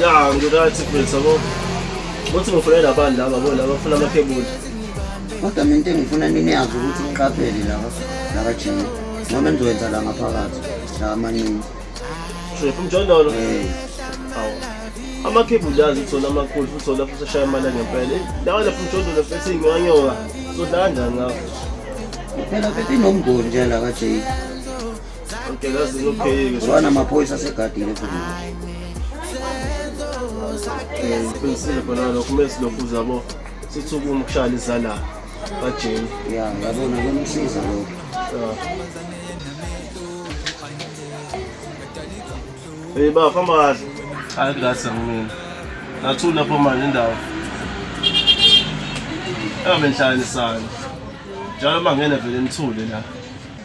ya ngirathi mfethu yabo uthi ngifuna labani laba bo laba bafuna amaphebula kodwa mina into engifuna niniyazi ukuthi niqaphele laba labajini noma enizokwenza la ngaphakathi la amaningi shephu mjondolo eh. awu amaphebula yazi uthola amakhulu futhi uthola futhi ashaya imali ngempela lawa lapho mjondolo futhi ngiwanyoka sodlala kanjani ngakho phela bethi nomngoni nje la ka-jake Wana maphoyisa asegadile futhi. Eh, ngiqinisile khona lokho uma silokhu zabo sithi ukuma ukushaya izala kajeni ya ngabona kumsiza lokho Hey ba famba kahle. Hayi ngase mina. Nathula lapho manje indawo. Ebe nhlalisana. Njalo mangene vele nithule la.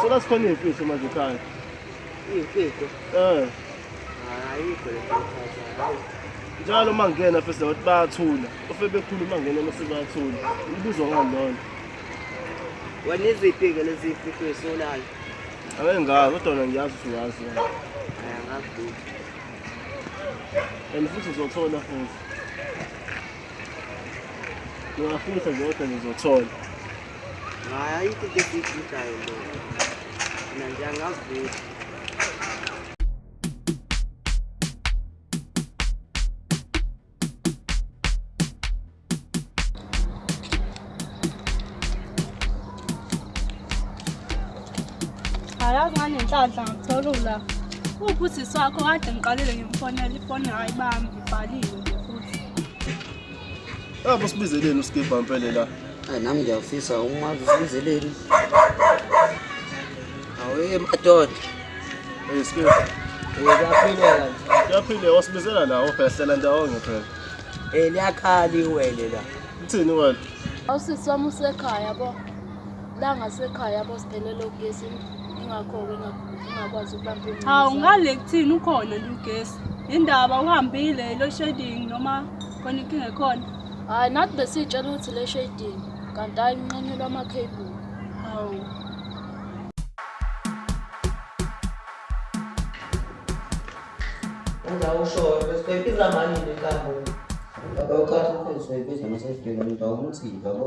Sela sikhona iy'mfihlo manje ekhaya. Iy'mfihlo? Eh. Ayikho le njalo uma ngingena fese bathi bayathula ofe bekhuluma ngena mase bayathula ibuzwa ngani lona wena iziphi-ke lezi fihlo esolayo ake ngazi kodwa wena ngiyazi ukuthi uyazi wena angazi and futhi uzothola futhi ngiyafisa nje kodwa ngizothola Hayi, kike siyigidayo lo. Mina nje angazi ukuthi Ayazi ngani inhlanhla ngithola ula. Uphi usisi wakho kade ngiqalile ngimfonela ifoni hayi bambi ibhaliwe. Yabo sibizeleni uSkibha mpele la. Ay nami ngiyafisa umazi usibizeleni. Awe madoda. Hey Skibha. Eh kuyaphileka. Kuyaphile wasibizela la obhesela ndawonye phela. Eh liyakhala iwele la. Uthini wena? Awusisi wami usekhaya bo. La ngasekhaya bo siphelele ugesi. ingakho-ke ingakwazi ukubamba imuzi hawu ngale kuthini ukhona nje ugesi indaba uhambile lo shading noma khona inkinga ekhona hhayi nathi besiyitshela ukuthi le shading kanti hayi nqanyelwa ama-cable hawu uzawushoyo besizoyibiza mani le nkampuni akawukhathi umfundisi wayibiza masesibheka mntu awumthika bo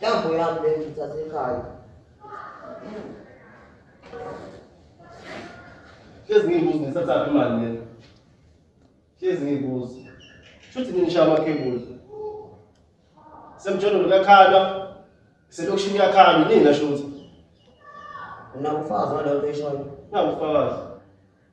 Jambo yangu leo nitazikayo. Hlezi ngiyibuza ngisathatha imali lena. Hlezi ngiyibuza. Shuthi ngisha amakhebuli. Semjolo ngakhala. Selokishini yakhala nini ngashuthi. Unakufaza ngalento eshoyo. Nakufaza.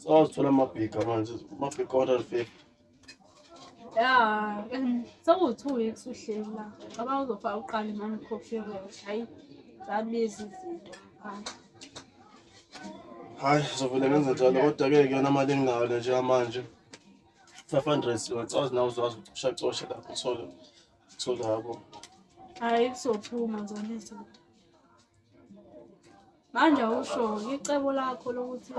sawazithola amabhiga manje amabhiga 150 ya sekuwu-two weeks uhleli la ngoba uzofaka uqala imani coffee rosh hayi zabiza izinto ngaphandle hayi zovele ngenze njalo kodwa-ke kuyona mali enginayo le njengamanje five hundred siwacazi nawe uzwazi ucoshacoshe lapho uthole uthole yabo hayi kuzophuma zona izinto manje usho icebo lakho lokuthi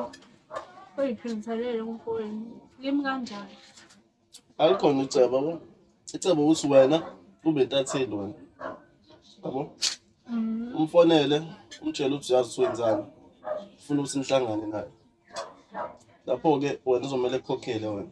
uyiphindiselele umfowenu limi kanjani alikhona icebo yabo icebo ukuthi wena ube ntatheli wena yabo mm. umfonele umtshele ukuthi uyazi ukuthi wenzani ufuna ukuthi nihlangane naye lapho-ke wena uzomele kukhokhele wena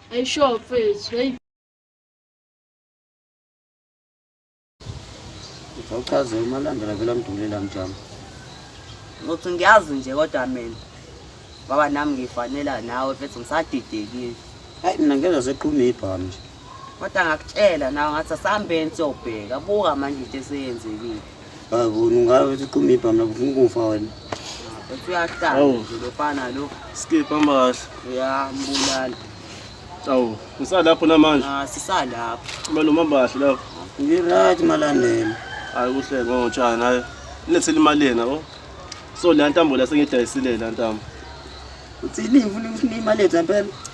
Hey, sure, please. Hey. Ngizawuchaza umalandela vela mdulela mjama. Ngothi ngiyazi nje kodwa mina. Baba nami ngifanela nawe mfethu ngisadidekile. Hayi mina ngezwa seqhuma ibhamu nje. Kodwa ngakutshela nawe ngathi asihambeni siyobheka. Buka manje into eseyenzekile. Bavuna ungabe siqumipha mina kufuna ukufa wena. Uyahlala Awu. nje lofana lo. Skip hamba kahle. Uyambulala. Awu, ngisalapho namanje. Ah sisalapha. Kumele umamba kahle lapho. Ngiright malandela. Hayi kuhle ngotshani hayi. Nilethele imali yena o. So la ntambo la sengidayisile la ntambo. Uthini ufuna ufuna imali yethu impela?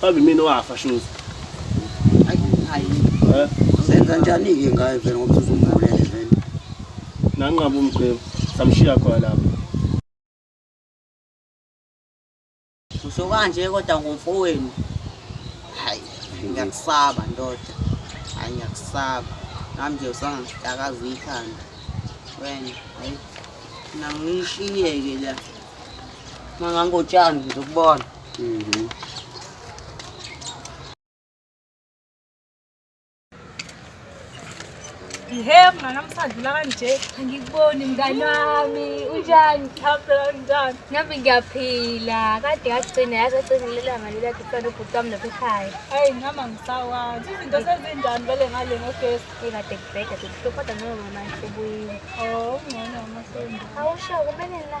Babe mina wafa shoes. Ayi ayi. Eh? Senza njani ke ngaye vele ngoba usumbulele vele. Nanqaba umgcebo. Samshiya khona lapha. Usho kanje kodwa ngomfowenu. Hayi, ngiyakusaba ndoda. Hayi ngiyakusaba. Nami nje usangidakaza ikhanda. Wena, hayi. Nangishiyeke la. Mangangotshani ngizokubona. Hey, mngane amsadlula kanje. Angikuboni mngane wami. Unjani? Ngiyaphila njani? Nami ngiyaphila. Kade yagcina yaze yagcina lelanga lela kufana ubhuti wami lapha ekhaya. Hayi ngihamba ngisawazi. Izinto sezinjani vele ngale ngogesi? Ikade kubheda kuhlupha kodwa noma mama sebuyile. Oh, ngcono mama sebuyile. Awusho kumele la.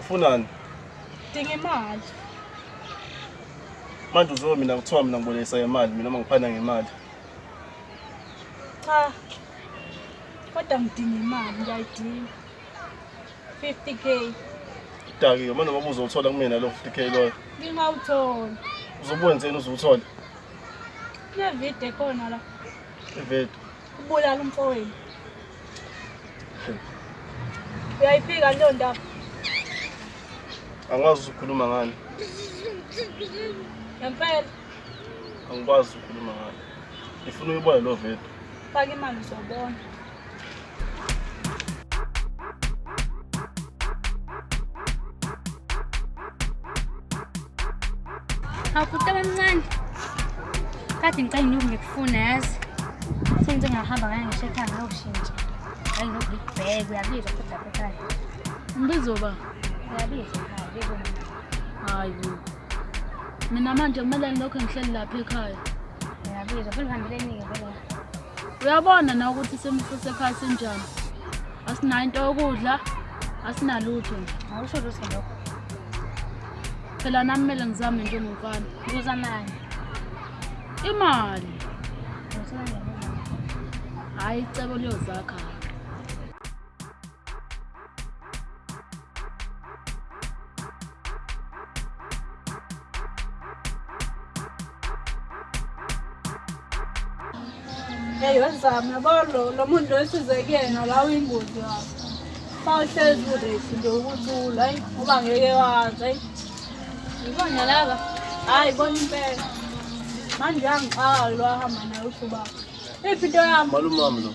ufunani dinga imali manje uzobe mina kuthiwa mina ngibolekisa ngemali mina uma ngiphana ngemali cha kodwa ngidinga imali ngiyayidinga 50 k dakiwe manje ngoba uzothola kumina lo 50 k loyo ngingawuthola uzobuwenzeni uzuwuthola kunevidiyo ekhona la ividiyo Ubulala umfowenu. Uyayiphika leyo ndaba. Angikwazi ukukhuluma ngani. Ngempela. Angikwazi ukukhuluma ngani. Ngifuna uyibone lo video. Faka imali uzobona. Awukuqe bamncane. Kade ngicela ngiyoku ngikufuna yazi. Sengize ngahamba ngaya ngisho ekhaya ngiyoshintsha. Hayi ngiyoku ngikubheke uyabizwa futhi lapha ekhaya. Ngibizo ba. Uyabizwa ekhaya biko. Hayi. Mina manje kumele ngilokho ngihleli lapha ekhaya. Uyabizwa futhi ngihambeleni-ke vele. uyabona na ukuthi isimo sasekhaya sinjani asinayo into yokudla asinalutho awusho lutho lokho phela nami kumele ngizame njengomfana ngizamani imali hhayi icebo liyozakha Hey, what's up? Nabolo, lo muntu wesize kuyena la uyingozi yakho. Sawuhlezi kurethi nje ukuthula, hayi ngoba ngeke wazi, hayi. Yibona laba. Hayi bona impela. Manje uyangixaka lo ahamba naye uthi ubaba. Iphi into yami? Malumami lo.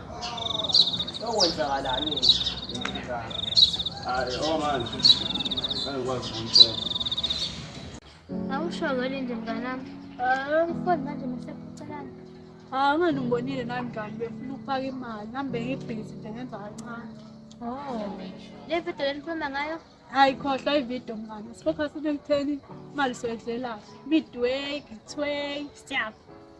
Okwenzakalani? Hayi, oh man. Angikwazi ukutshela. Awusho ngani nje mnganami? Ah, mfowethu manje mesekucelana. Ah, ngani ngibonile nami mngani befuna ukufaka imali. Ngihambe ngibhizi nje ngenza kancane. Oh. Le video lenikhuluma ngayo? Hayi khohlwa ivideo mngani. Sifocus into ekutheni imali soyidlela. Midway, githway, siyapha.